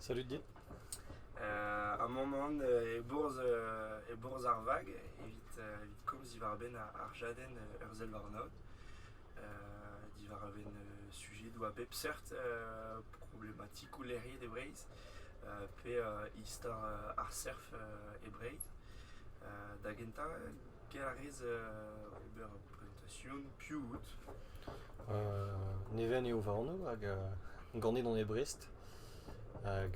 Salud dit. ar mañ-mañ e-bourzh ar vag evit komz diwar-benn ar jadenn Ur sell warnaod diwar-benn sujedoù a bep seurt problematikoù lec'hiet e Breizh pe istor ar surf e Breizh da gentañ, get a rez ober Station, piv out? Neven eo va anv hag ganet on e Brest. Hag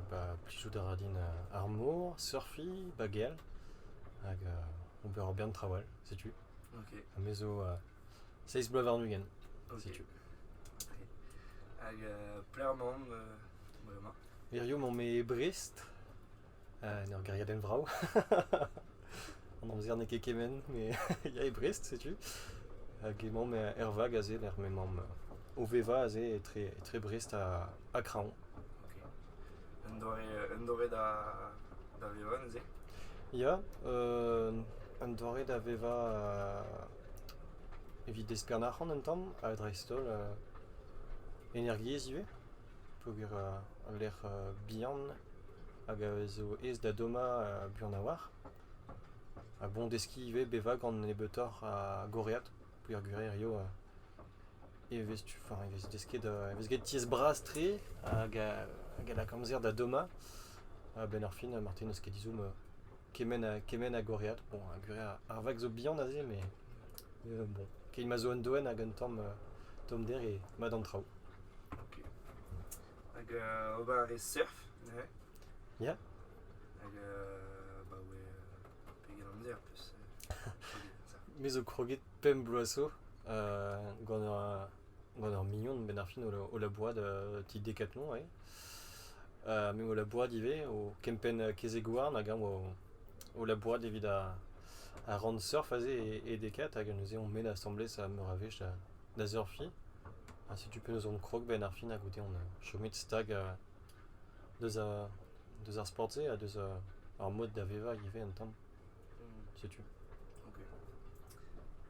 ba plijout a ra din ar mor, surfiñ, bagel hag ober ur bern traoù all, setu. Ok. Ha me zo seizh bloaz warn-ugent, setu. Hag pelec'h emaomp bremañ? Hirio emaomp e Brest. en ur gêriadenn vrav. An amzer n'eo ket kement, mais il y a e Brest, setu. Hag emaomp er vag aze, lec'h m'emaomp o vevañ aze etre, etre Brest ha, ha Kraoñ. Un doare, un doare da, da vevañ neuze Ya, euh, un doare da vevañ euh, evit deskiñ an arc'hant un tamm, ha dreist-holl euh, energiezh ivez. peogwir ul lec'h bihan hag a zo aes da dommañ buan a-walc'h. Ha bon deskiñ ivez bevañ gant nebeutoc'h a gorread peogwir hiziv e vez tu enfin e vez desket e vez graet tiez bras-tre hag a lak amzer da dommañ. A-benn ar fin marteze n'eus ket ezhomm kement a kement a gorread. Bon ar gwir ar vag zo bihan aze met Keit ma zo un doenn hag un tamm tommder e mad an traoù. Ok. Hag euh, ober a rez surf neuze Ya? Hag euh, bah ouais, euh, pegen amzer plus. Me zo kroget pemp bloaz zo euh, gant ur, gant ur mignon benn ar fin o, la- o labourat euh, ti Decathlon eo. Euh, me o labourat ivez o kempenn kezeg-houarn hag eñ o, o labourat evit ar, a ran surf aze e dekaat hag neuze on bet asambles meur a wech da surfiñ. Ha setu penaos on krog 'benn ar fin ha goude on chomet stag deus ar deus ar sport-se ha deus ar mod da vevañ ivez un tamm. Setu. Ok.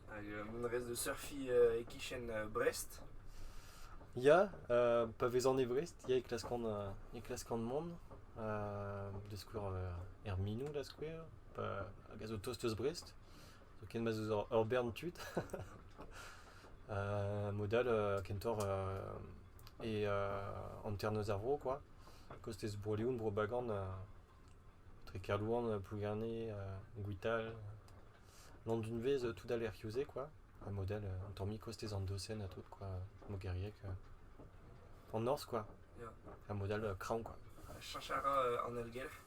Hag mont a rez da surfiñ e-kichen Brest? Ya, pa vezan e Brest ya e klaskan e klaskan mont, da skouer er Minou da skouer, hag a zo tost eus Brest, zoken ma zo ur bern tud. mod all kentoc'h e hanternoz ar vro, quoi. Kostez Bro-Leon, Bro-Bagan, tre Kerlouan, Plougerne, Gwital, Landunvez, tout à l'Erriozé, quoi. Un modèle, un tormi kostez Andosen, à tout, quoi. Mogeriek, en norzh, quoi. Un modèle craon, quoi. Cherchez en Elgelc'h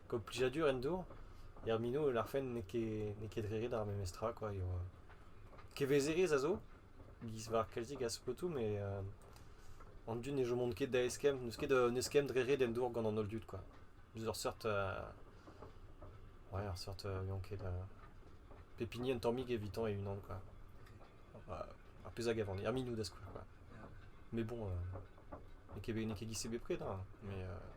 Gant plijadur en dour, er mino e lârfen n'eo ket n'eo ket re ret ar memes tra quoi eo kevezerezh a zo giz war kalzik a spotoù met an dud ne chomont ket da eskemm n'eus ket un eskemm dre ret en dour gant an holl dud quoi deus ur seurt ouais ur seurt n'on ket pep hini un tammig evitañ e-unan quoi ar pezh a gav an er minoù da skouer quoi mais bon n'eo ket n'eo ket giz-se bepred hein mais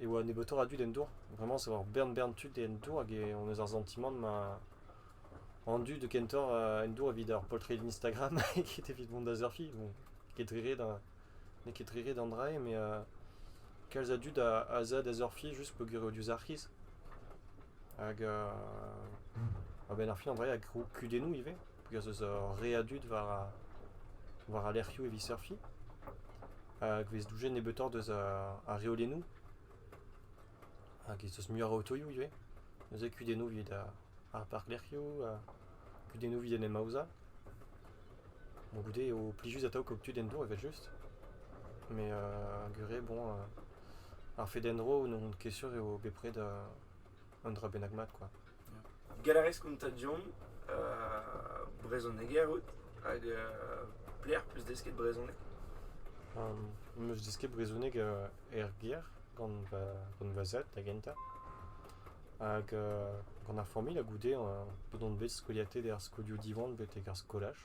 e oa nebeutoc'h a dud en dour. Vraiment, c'est avoir bern bern tud en dour hag e- on eus ar santimant ma an dud kentoc'h euh, en dour evit ar poltred Instagram ket evit mont da surfiñ. Bon, n'eo ket re ret da- n'eo ket re ret an dra-se mais euh, kalz a dud a a zeu da surfiñ juste peogwir eo diouzh ar c'hiz. Hag euh, a-benn ar fin an dra-se a grou kudennoù ivez. peogwir ez eus ur re a dud war war al lec'hioù evit surfiñ hag e vez doujet nebeutoc'h deus ar reolennoù hag ez eus muioc'h a otoioù ivez neuze kudennoù evit ar parklec'hioù kudennoù evit en em aozañ bon goude eo plijus atav kaout tud en-dro evel-just met gure bon ar fed en-dro n'on ket sûr eo bepred Un dra bennak mat, quoi. Galarez konta diomp uh, brezhoneger out hag uh, plaer plus desket brezhoneg um, Meus desket brezhoneg uh, er ger gant va, gant va zad da gentañ hag uh, gant ar familh a goude uh, bod on bet skoliatet er skolioù Diwan betek ar skolaj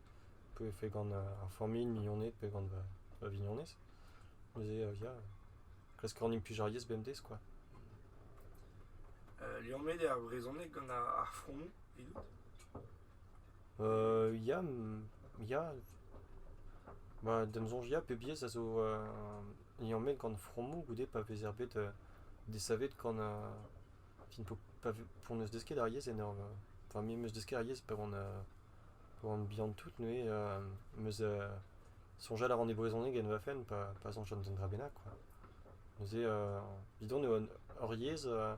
Pe e fed gant ar familh mignoned pe gant va vignonez. Neuze ya, klask a ran implij ar yezh bemdez kwa. liammet eo ar brezhoneg gant ar fromoù evidout? ya, ya. Ba d'am soñj ya, pep yezh a zo liammet gant fromoù goude pa vezer bet desavet gant fin po pa n'eus desket ar yezh en ur... enfin me 'm eus desket ar yezh pa oan Bon, bihan tout neuze, euh, meus euh, soñjal a ran e brezhoneg en va fenn pa, pa soñjan d'un dra bennak quoi. Neuze, euh, evidon eo hor yezh euh,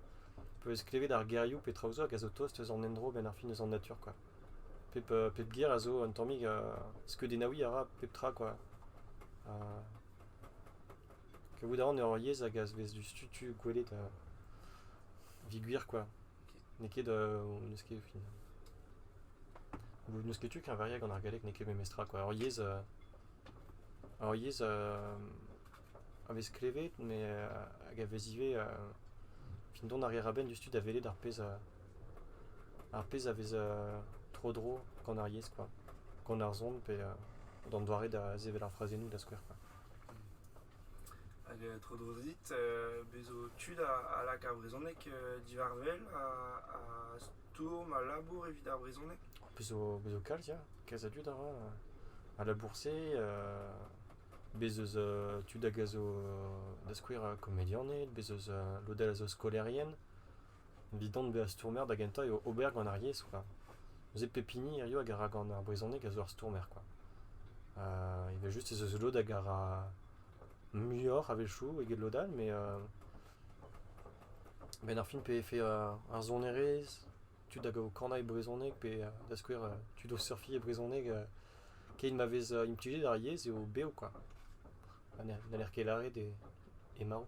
eo ez klevet ar gerioù pe traoù zo hag a zo tost eus an endro benn ar fin eus an natur quoi. Pep, euh, pep ger a zo un tammig euh, skeudennaouiñ a ra pep tra quoi. Euh, kavout a ran eo hor yezh hag a vez diouzh tu tu gwelet euh, evit gwir quoi. N'eo ket n'eus ket fin. N'eus ket tu keñveriañ gant ar galleg n'eo ket memestra kwa. Ur yezh ur yezh a vez klevet met hag a vez ivez fin dont a reer a-benn diouzhtu da welet ar pezh ar pezh a vez tro-dro gant ar yezh kwa. Gant ar son pe d'an doare da sevel ar frazennoù da skouer kwa. Hag tro dro dit, bez' zo tud a lak ar brezhoneg diwar wel ha stourm ha labour evit ar brezhoneg. Bez' zo kalz ya, kalz a dud a ra al labour-se. Bez' eus tud hag a zo da skouer komedianed, bez' eus lod all a zo skolaerien. Evit bezañ stourmer da gentañ eo ober gant ar yezh kwa. Neuze pep hini hiziv a gara gant ar brezhoneg a zo ur stourmer kwa. Evel-just ez eus lod hag a ra muioc'h a-wechoù eget lod all met a-benn ar fin pe e fais ar sonerezh tud hag a vo kanañ e brezhoneg pe da skouer tud o surfiñ e brezhoneg keit ma vez implijet ar yezh eo bev kwa. Ha n'haller ket lâret eo marv.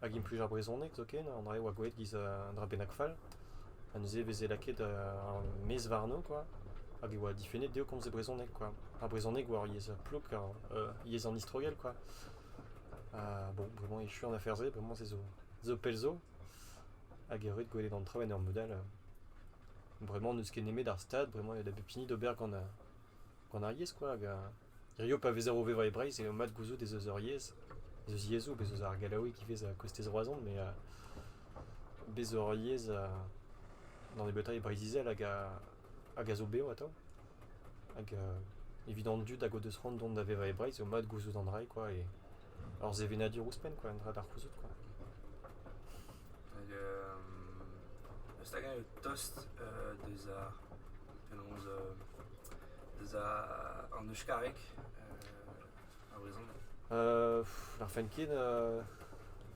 Hag implij ar brezhoneg zoken, an dra-se 'oa gwelet giz un dra bennak fall, ha neuze e veze lakaet ar maez warno quoi, hag e oa difennet dezho komz e brezhoneg quoi. Ar brezhoneg oa ur yezh plouk, ur yezh an istrogell quoi. Ha bon, bremañ echu an afer-se, bremañ se zo zo pell zo, hag eo ret gwelet an traoù en ur mod all. Bremañ n'eus ket nemet ar stad, bremañ eo da bep hini d'ober gant Gant ar yezh koa hag ar... hiziv pa vezer o vevañ e Breizh eo mat gouzout ez eus ur yezh, ez eus yezhoù, bez' eus ar gallaoueg ivez a kostez Roazhon met bez' zo ur yezh da nebeutañ e Breizh-Izel hag a hag a zo bev atav hag evit an dud hag o deus c'hoant dont da vevañ e Breizh eo mat gouzout an dra-se koa e ur sevenadur ouzhpenn koa un dra da c'houzout koa. staga eo tost deus ar penaos deus an euskareg e brezhoneg. N'arfen ket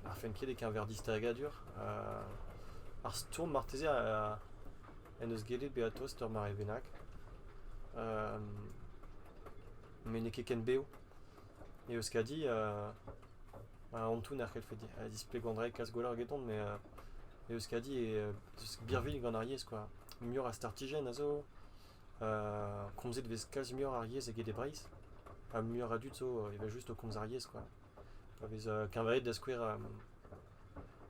n'arfen ket e-keñver distagadur. ar stourm marteze en deus gellet bezañ tost ur mare bennak met n'eo ket ken bev. Euskadi antoù n'er c'hellfe displegañ dre kas-gwell egeton met Euskadi eo birvilh gant ar yezh kwa. Muioc'h a startijenn a zo, komzet e vez kalz muioc'h ar yezh eget e Breizh ha muioc'h a dud zo evel-just o komz ar yezh kwa. Pa vez keñvaet da skouer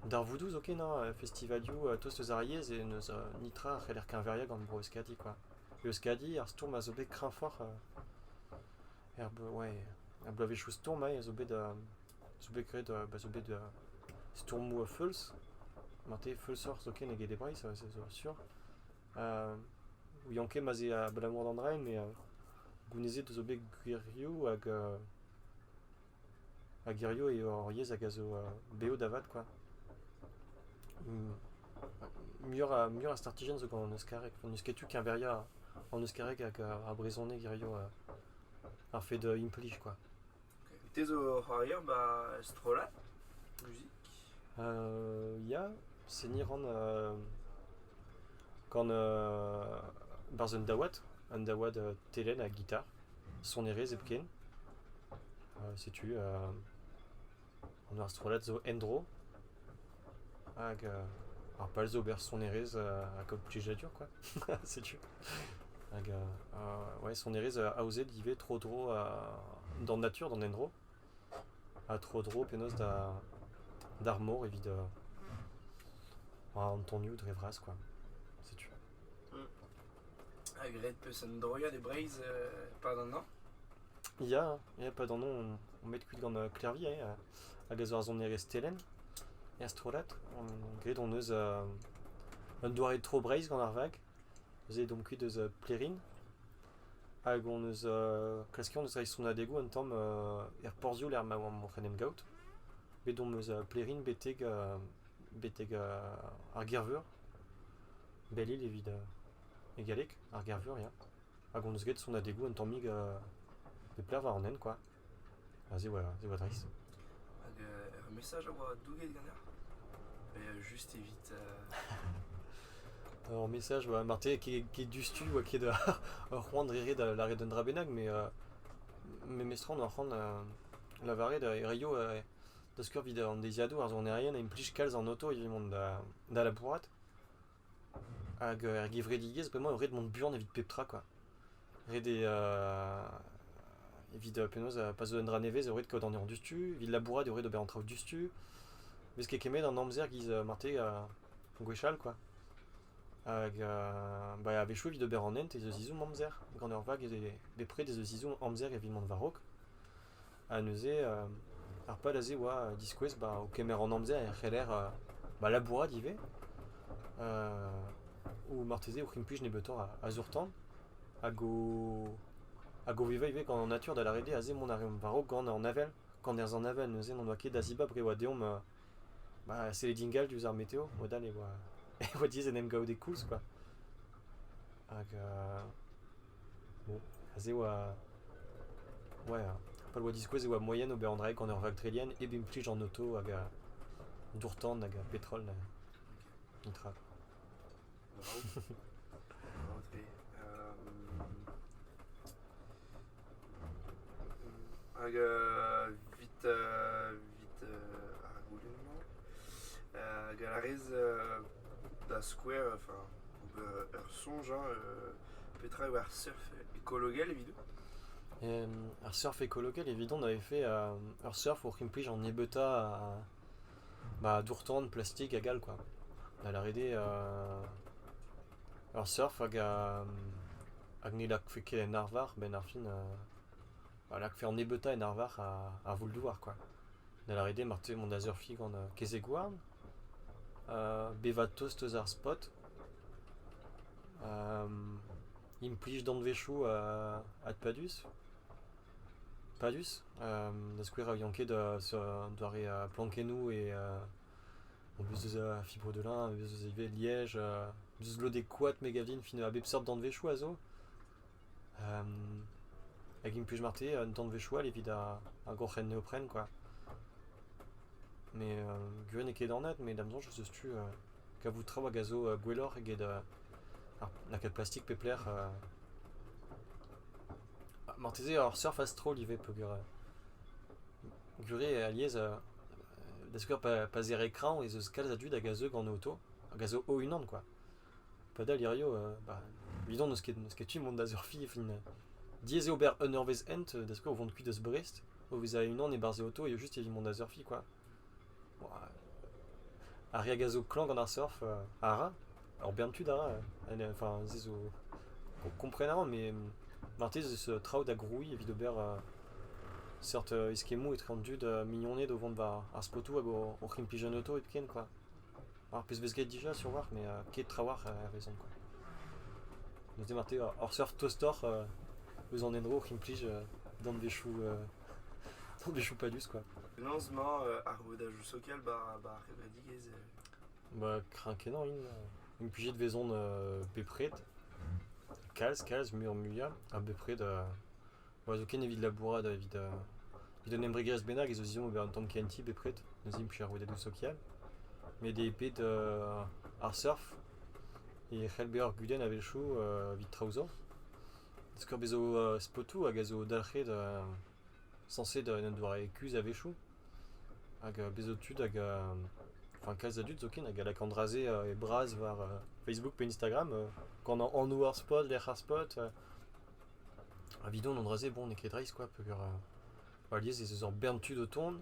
darvoudoù zoken hañ, festivalioù tost eus ar yezh e n'eus nitra a c'heller keñveriañ gant bro Euskadi kwa. Euskadi ar stourm a zo bet kreñvoc'h Er bloaz ouais, er bloavezhioù stourmañ zo bet zo bet graet ba zo bet stourmoù a-feulz. Marteze feulsoc'h zoken eget e Breizh ça zo sur. ouian ket ma'z eo abalamour d'an raen met gounezet zo bet gwirioù hag Hag hirio eo hor yez hag a zo beo da vat, quoi. Muioc'h muioc'h a startijenn zo gant an euskareg. N'eus ket tu keñveria an euskareg hag ar brezhoneg hirio ar fed implij, quoi. Te zo o c'hoario ba strollad muzik? Ya, seniñ ran Gant barzh un daouad, un daouad telenn ha gitar, sonerezh hepken. Setu an ar strollad zo en-dro hag ar pal zo ober sonerezh ha kaout plijadur quoi, setu. Hag ouais sonerezh aozet ivez tro-dro d'an natur, d'an endro. ha tro-dro penaos d'ar mor evit an tonioù dre vras kwa setu. Ha graet 'peus un droiad e Breizh e-pad an hañv? Ya, ya, 'pad an hañv on bet kuit gant Clairvy eh, hag a zo ar sonerezh Telenn er strollad. Graet hon eus un doare tro Breizh gant ar vag. Neuze e domp kuit eus Plerin hag hon eus klask hon eus reiñ sonadegoù un tamm er porzhioù lec'h ma oamp o c'henem gaout. Bet omp eus Plerin betek betek ar Gerveur, Belle-Île evit e galleg, ar Gerveur ya. Hag hon eus graet sonadegoù un tammig e pelec'h war an hent kwa. A zevoa, zevoa dreist. Hag ur mesaj a oa douget ganeoc'h Just evit... Ur mesaj oa marteze ket diouzhtu oa ket ur c'hoant dre ret da lâret un dra bennak met memestra on ur c'hoant lavaret hirio da skeuer evit an deiziadoù ar sonerien a implij kalz an auto evit mont da labourat. Hag er gevredigezh bremañ eo ret mont buan evit pep tra kwa. Ret eo evit penaos pa zo un dra nevez eo ret kaout an anezhañ diouzhtu, evit labourat eo ret ober an traoù diouzhtu. Vez ket kemmet an amzer giz marteze gwechall kwa. Hag bah a-wechoù evit ober an hent ez eus ezhomm amzer. Gant ur vag bepred ez eus ezhomm amzer evit mont war-raok. Ha neuze ar pal aze oa diskouez ba o kemer an amzer e c'heller ba labourat ivez o marteze o c'implij nebeutoc'h a zour-tan hag o hag o vevañ ivez gant an natur da lâret eo aze mont a reomp war-raok gant an avel gant nerzh an avel neuze n'en doa ket da zibab re oa deomp ba sellet ingal diouzh ar meteo modal e oa e oa diaes en em gavout e koulz quoi hag Bon, aze e oa... ouais, pa oa diskouez e oa moaien ober an draig gant ur raktrelienn hep implij an auto hag a dour-tan hag a petrol. An tra. Bravo. Hag evit evit ar goulenn-mañ. hag a rez da skouer, enfin, ober ur soñj, hein, petra eo ar surf écologel evidon Ar surf écologel, evidon, avait fait ur surf pour qu'implije en Ebeutta bah, d'ourtan, plastique hag all, quoi. Da lâret eo ur surf hag hag ne lâkfe ket en arvar, 'benn ar fin. a lakfe an nebeutañ en arvar ar voull-douar kwa. Da lâret eo marteze mont da surfiñ gant kezeg-houarn, bevañ tost eus ar spot, implij danvezioù adpadus, padus, da skouer a ouian ket doare plankennoù e en deus eus fibre de lin, en deus eus ivez liège, en deus eus lodek koad me gav din a bep seurt danvezioù a zo. hag implij mat eo an danvezioù all evit ar groc'hen neopren kwa. Met gwir n'eo ket anat met da'm soñj ez eus tu kavout traoù hag a zo gwelloc'h eget lakaat plastik pep lec'h. Marteze ur surf a-stroll ivez peogwir gwir eo alies da skouer pa zere kreñv ez eus kalz a dud hag a zeu gant auto hag a zo o-unan kwa. Padal hirio, bah, evidon n'eus ket, n'eus ket tu mont da surfi. Enfin, diaes eo ober un eurvezh hent da skouer o vont kuit eus Brest, o vezañ e-unan e-barzh e oto eo just evit mont da surfi kwa. Ar re hag a zo klañv gant ar surf a ra, ur bern tud a ra. Enfin, se zo, o kompren a ran, met marteze ez eus traoù da grouiñ evit ober seurt eskemmoù etre an dud mignoned o vont war ar spotoù hag oc'h implij un oto hepken kwa. Ar pezh 'vez graet dija sur war, met ket trawalc'h a-wezhon kwa. Neuze marteze ur seurt tostoc'h eus an endro c'implij danvezioù danvezioù padus quoi. Penaos 'mañ ar vodajoù sokial ba' ba' ar c'hevredigezh e? Bah kreñv-kenañ int. Implijet 'vezont bepred, kalz kalz muioc'h-muiañ ha bepred Bon, zoken evit labourat, evit, evit un embregerezh bennak, ez eus ezhomm ober un tamm kenti bepred, neuze implij ar rouedadoù sokial. Met eo bet ar surf e c'hell bezañ ur gudenn a-wechoù evit traoù zo. Skor bez zo spotoù hag a zo dalc'het sañset en un doare kuzh a-wechoù. Hag bez zo tud hag, enfin kalz a dud zoken hag a lak an dra-se e bras war Facebook pe Instagram, gant anv ar spot, lec'h ar spot. Evidon an dra-se, bon, n'eo ket dreist, quoi, peogwir euh, alies ez eus ur bern tud o tont,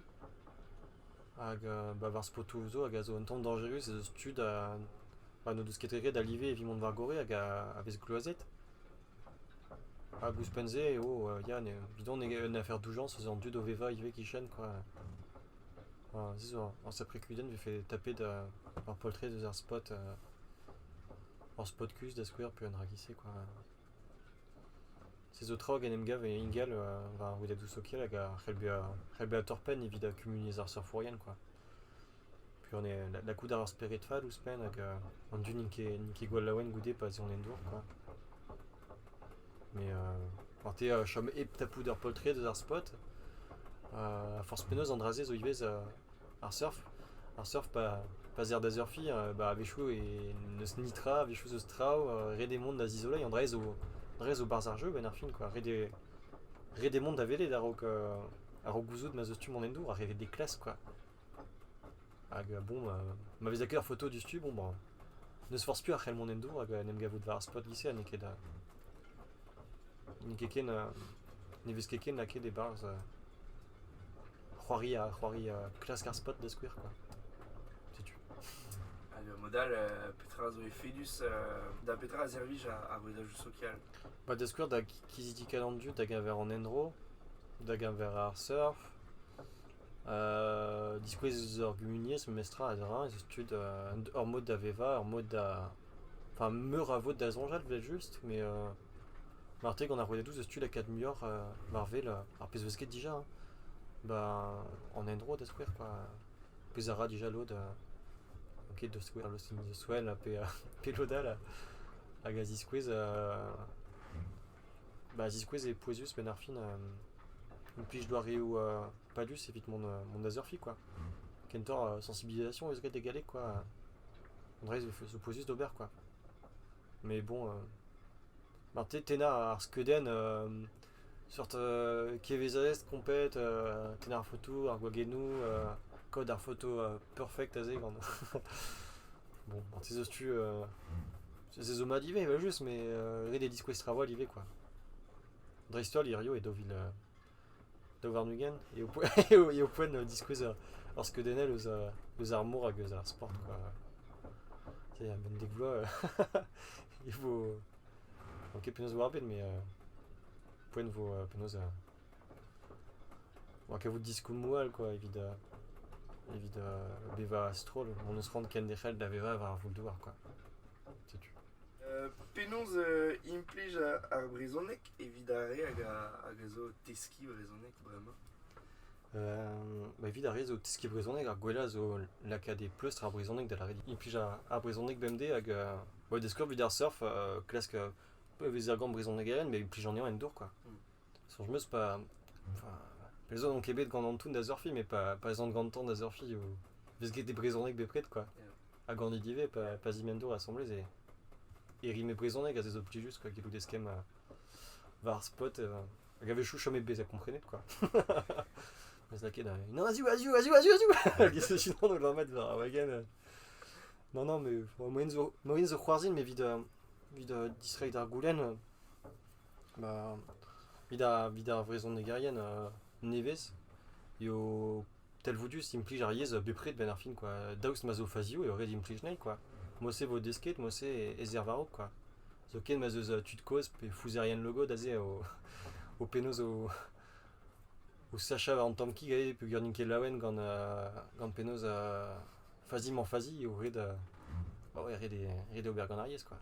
hag euh, bah, war spotoù zo hag a zo un tamm dañjerus ez eus tud a, bah, n'o deus ket ket da live evit mont war-gorre hag a, a vez gloazet. Hag ouzhpenn-se eo, euh, ya, evidon eo un afer doujañs eus an dud o vevañ ivez kichen, quoi. Ah, se zo en sacré cuisine vefe tapet euh, ur poltred eus ar spot euh, ur spot kuzh da skouer pe un rakise quoi. Se zo tra hag en em gav ingal war ar rouedadoù sokial hag a c'hell bezañ c'hell bezañ torr-penn evit kumuniezh ar surfourien kwa. Peogwir ne lakaout a ra ar spered fall ouzhpenn hag an dud n'int ket n'int ket gwall laouen goude pa 'z eo an endour kwa. Met marteze a chom hep tapout ur poltred eus ar spot. Ha forzh penaos an dra-se zo ivez Ar surf, ar surf pa pa'z eer da surfiñ bah a-wechoù e n'eus netra, a-wechoù 'z eus traoù, ret eo mont da zizoleiñ, an dra-se zo an dra-se zo 'barzh ar jeu benn ar fin quoi, ret eo ret eo mont da welet a-raok a-raok gouzout ma 'z eus tu mont en-dro, ha revet des classes quoi. Hag bon ma vez lakaet ar foto diouzhtu bon bah n'eus forzh piv a c'hell mont en-dro hag en em gavout war ar spot giz-se ha n'eo ket n'eo ket ken ne vez ket ken lakaet e-barzh. c'hoaria, c'hoaria, klask ar spot da skouer quoi. Setu. Hag mod all, petra zo efedus da petra a servij ar bredajou sokial? Bah da skouer da kizidical an dud da geñver an endro, da geñver ar surf, euh diskouez eus ur gumuniezh memestra ha dra, eus tud, ur mod da vevañ, ur mod da... Enfin meur a vod da soñjal 'vel just, mais euh... Marteze gant ar rouedadoù 'zeus tu lakaat muioc'h war wel ar pezh 'veus graet dija hein, ba an endro da skouer kwa, pezh a ra dija lod ket da skouer lostenn pe pe lod all hag a ziskouez ba a ziskouez eo pouezus penn ar fin implij doareoù padus evit mont da surfiñ kwa, kentoc'h sensibilisation 'eus graet e galleg kwa, an dra-se 'zo pouezus d'ober kwa. Mais bon, marteze tennañ ar skeudenn seurt kevezerezh komplet, tennañ ar foto, ar gwagennoù, kaout ar foto perfect aze gant bon marteze eus tu se zo mat ivez evel-just, mais ret eo diskouez traoù all ivez, quoi. Dreist-holl hiziv e daou vil Daou varn-ugent eo poent diskouez ur skeudenn eus ar mor hag eus ar sport quoi. A-benn dek vloaz e vo... n'on ket penaos e vo ar bed met poent vo penaos... oa kavout diskoulmoù all quoi evit bevañ a-stroll. Hon eus c'hoant kenderc'hel da vevañ war ar voull-douar quoi. Setu. Penaos implij ar brezhoneg evit ar re hag a zo o teskiñ brezhoneg bremañ ba evit ar re zo o teskiñ brezhoneg ar gwellañ zo lakaat e pleustr ar brezhoneg da lâret implij ar brezhoneg bemdez hag da skouer evit ar surf klask pevez argant brezhonegerien met implij anezhañ en dour quoi soñj 'm eus pa pezh zo n'on ket bet gant Antoun da surfiñ met pa ez an gantañ da surfiñ 'vo 'vez get e brezhoneg bepred quoi Ha ganit ivez pa zimendo asambles e, e rim e brezhoneg, a zezo plijus quoi, gellout eskemm war ar spot. hag a wechoù chom bet bezañ komprenet quoi. Mes lakaet da... Non, azioù, azioù, azioù, azioù, azioù Gis e sinon o lammet war ar wagen. Non, non, mais moyen zo, moyen zo c'hoarzhin, mais vid, vid distreiñ d'ar goulenn, bah, vid ar, vid ar vrezhonegerien nevez, eo talvoudus implij ar yezh bepred 'benn ar fin kwa daoust ma zo fazioù eo ret implij anezhi kwa mod-se 'vo desket mod-se ez er war-raok kwa zoken ma 'z eus tud-kozh pe fouzerien logod aze o penaos o sachañ war an tamm kig aze peogwir n'int ket laouen gant gant penaos fazi-mañ fazi eo ret ret ober gant ar yezh kwa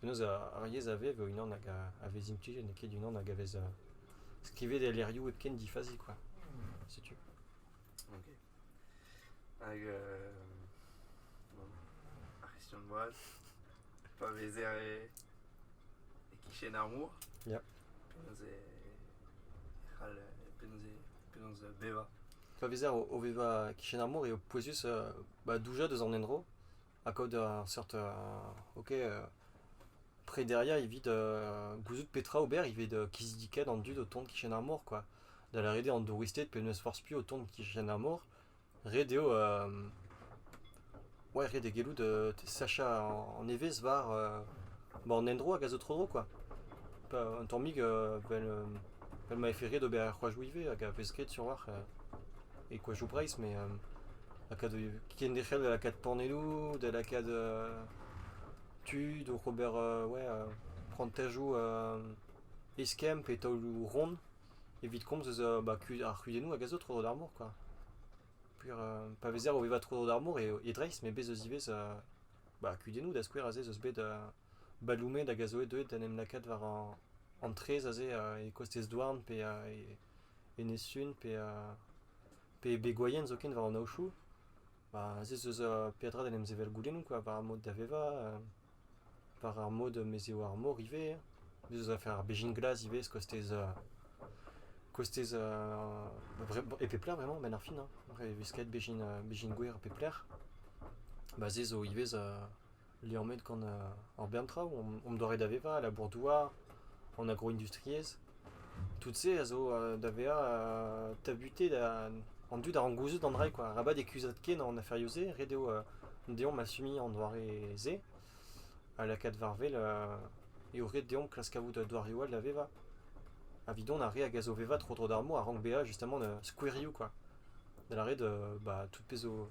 Penaos ar yezh a vev e-unan hag a vez implijet n'eo ket unan hag a vez skrivet e lec'hioù hepken difazi kwa, setu. Ok. Hag euh, bon, ar c'hestion boaz, pa vezer e, e kichen ar mor, Ya. penaos e, e c'hall, penaos e, penaos bevañ. Pa vezer o, o vevañ kichen ar mor eo pouezus euh, bah, doujañ deus an endro ha kaout ur seurt ok prederiañ evit gouzout petra ober evit kizidikat an dud o tont kichen ar mor quoi. Da lâret eo an douristed pe n'eus forzh piv o tont kichen ar mor, ret eo ouais, ret eo gellout sachañ an evezh war an endro hag a zo tro-dro quoi. Un tammig 'vel ma vefe ret ober ar c'hoajoù ivez hag a vez graet sur-walc'h. e koajoù Breizh met lakaat kenderc'hel da lakaat paneloù, da lakaat tud oc'h ober prantajoù eskemm pe taoloù ront evit komz eus ar c'hudennoù hag a zo tro-dro d'ar mor quoi. Puer pa vezer o vevañ tro-dro d'ar mor e Dreist met bez eus ivez kudennoù da skouer aze 'z eus bet Baloumed hag a zo deuet d'en em lakaat war an traezh aze e kostez Douarn pe Enez-Sun pe pe gwaien zoken war an aochoù. Ba aze ez eus peadra d'en em sevel goulennoù quoi war ar mod da vevañ, war ar mod mez eo ar mor ivez. Bez' ez afer ar bezhin glas ivez kostez kostez e pep lec'h vraiment a-benn ar fin hein. E vez kaet bezhin bezhin gwer pep lec'h. Ba se zo ivez liammet gant ar bern traoù. Omp doare da vevañ, a labour-douar, an agro-industriezh. Tout-se a zo da vezañ tabutet an dud a rank gouzout an dra-se quoi. Arabat e kuzhat ken an aferioù-se, ret eo deomp asumiñ an doare-se ha lakaat war-wel eo ret deomp klask kavout doareoù all da vevañ. Evidon ar re hag a zo vevañ tro-dro d'ar mor a rank bezañ justement skouerioù quoi. Da lâret, bah tout pezh zo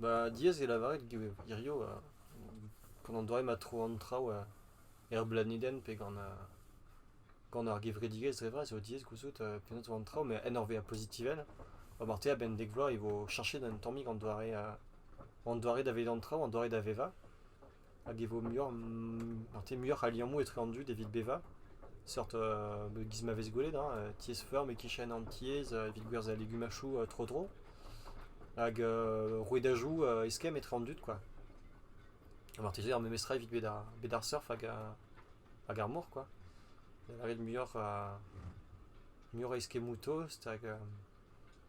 Ba diaes eo lavaret hirio gant an doare ma tro an traoù er blanedenn pe gant gant ar gevredigezh dre vras eo diaes gouzout penaos e vo an traoù met en ur vezañ pozitivel marteze a-benn dek vloaz e vo cheñchet un tammig an doare an doare da vezañ an traoù an doare da vevañ. hag e vo muioc'h, te muioc'h a liammoù etre an dud evit bevañ, seurt giz ma vez gwelet, hein, tiez-feur met kichen an tiez evit gwerzhañ legumachoù tro-dro, hag rouedajoù eskemm etre an dud quoi. Ha marteze ar memestra evit bet ar, bet ar surf hag, hag ar mor quoi, da lâret muioc'h, muioc'h a eskemmoù tost hag